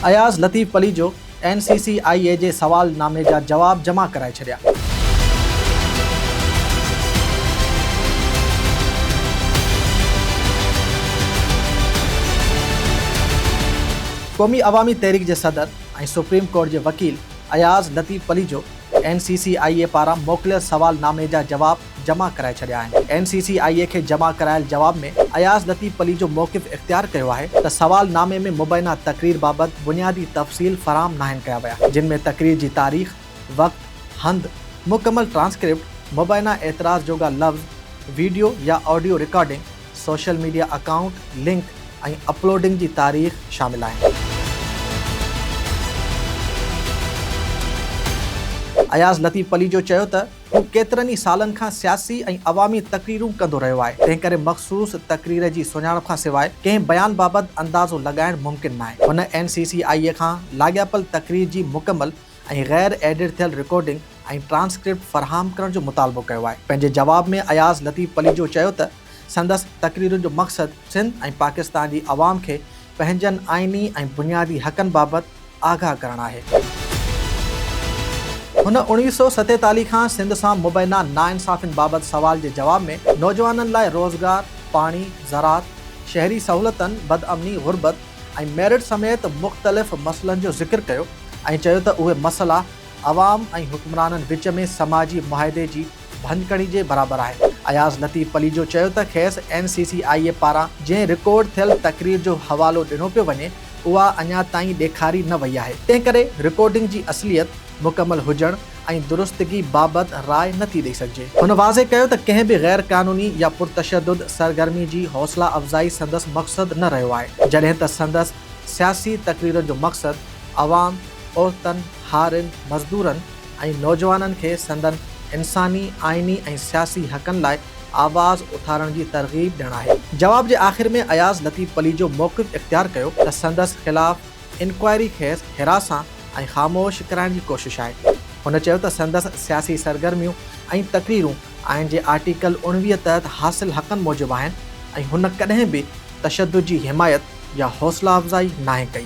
Ayaz Latif Palijo N C C I A جي سوال نامي جا جواب جمع ڪرائي ڇڏيا. قومي عوامي تحريڪ جي صدر ۽ سپريم ڪورٽ جي وڪيل Ayaz Latif Palijo N C C I A پاران موڪليل سوال نامي جا جواب جمع ڪرائي ڇڏيا آهن. اين سي سي آء اي کي جمع ڪرايل جواب ۾ اياز لطيف پليجو موقف اختيار ڪيو آهي ته سوال نامي ۾ مبينا تقرير بابت بنيادي تفصيل فراهم ناهن ڪيا ويا جن ۾ تقرير جي تاريخ، وقت، هنڌ، مڪمل ٽرانسڪرپٽ، مبينا اعتراض جوڳا لفظ، ويڊيو يا audio recording, social media account, link ۽ uploading جي تاريخ شامل آهن. اياز لطيف پليجو چيو ته. هو ڪيترن ئي سالن کان سياسي ۽ عوامي تقريرون ڪندو رهيو آهي، تنهن ڪري مخصوص تقرير جي سڃاڻپ کان سواء ڪنهن بيان بابت اندازو لڳائڻ ممڪن ناهي. هن اين سي سي آء اي کان لاڳاپيل تقرير جي مڪمل ۽ غير ايڊٽ ٿيل رڪارڊنگ ۽ ٽرانسڪرپٽ فراهم ڪرڻ جو مطالبو ڪيو آهي. پنهنجي جواب ۾ اياز لطيف پليجو چيو ته سندس تقريرن جو مقصد سنڌ ۽ پاڪستان جي عوام کي پنهنجن آئيني ۽ بنيادي حقن بابت آگاهه ڪرڻ آهي. هن اوڻويهه سؤ ستيتاليهه کان سنڌ سان مبينا ناانصافين بابت سوال جي جواب ۾ نوجوانن لاء روزگار، پاڻي، زراعت، شهري سهولتن، بدامني، غربت ۽ ميرٽ سميت مختلف مسئلن جو ذڪر ڪيو ۽ چيو ته اهي مسئلا عوام ۽ حڪمرانن وچ ۾ سماجي معاهدي جي ڀڃڪڙي جي برابر آهي. اياز لطيف پليجو چيو ته کيس N C C I A پاران جنهن رڪارڊ ٿيل تقرير جو حوالو ڏنو پيو وڃي اها اڃا تائين ڏيکاري نه وئي آهي تنهنڪري رڪارڊنگ جي اصليت، مڪمل هجڻ ۽ درستگي بابت راء نه ٿي ڏئي سگهجي. هن واضح ڪيو ته ڪنهن به غير قانوني يا پرتشدد سرگرمي جي حوصلا افزائي سندس مقصد نه رهيو آهي جڏهن ته سندس سياسي تقريرن جو مقصد عوام، عورتن، هارين، مزدورن، ۽ نوجوانن کي سندن انساني، آئيني ۽ سياسي حقن لاء آواز اٿارڻ جي ترغيب ڏيڻ آهي. جواب جي آخر ۾ اياز لطيف پليجو موقف اختيار ڪيو ته سندس خلاف انڪوائري کيس هراسان ۽ خاموش ڪرائڻ جي ڪوشش آهي. هن چيو ته سندس سياسي سرگرميون ۽ تقريرون آئين جي آرٽيڪل اوڻويهه تحت حاصل حقن موجب آهن ۽ هن ڪڏهن به تشدد جي حمايت يا حوصلا افزائي ناهي ڪئي.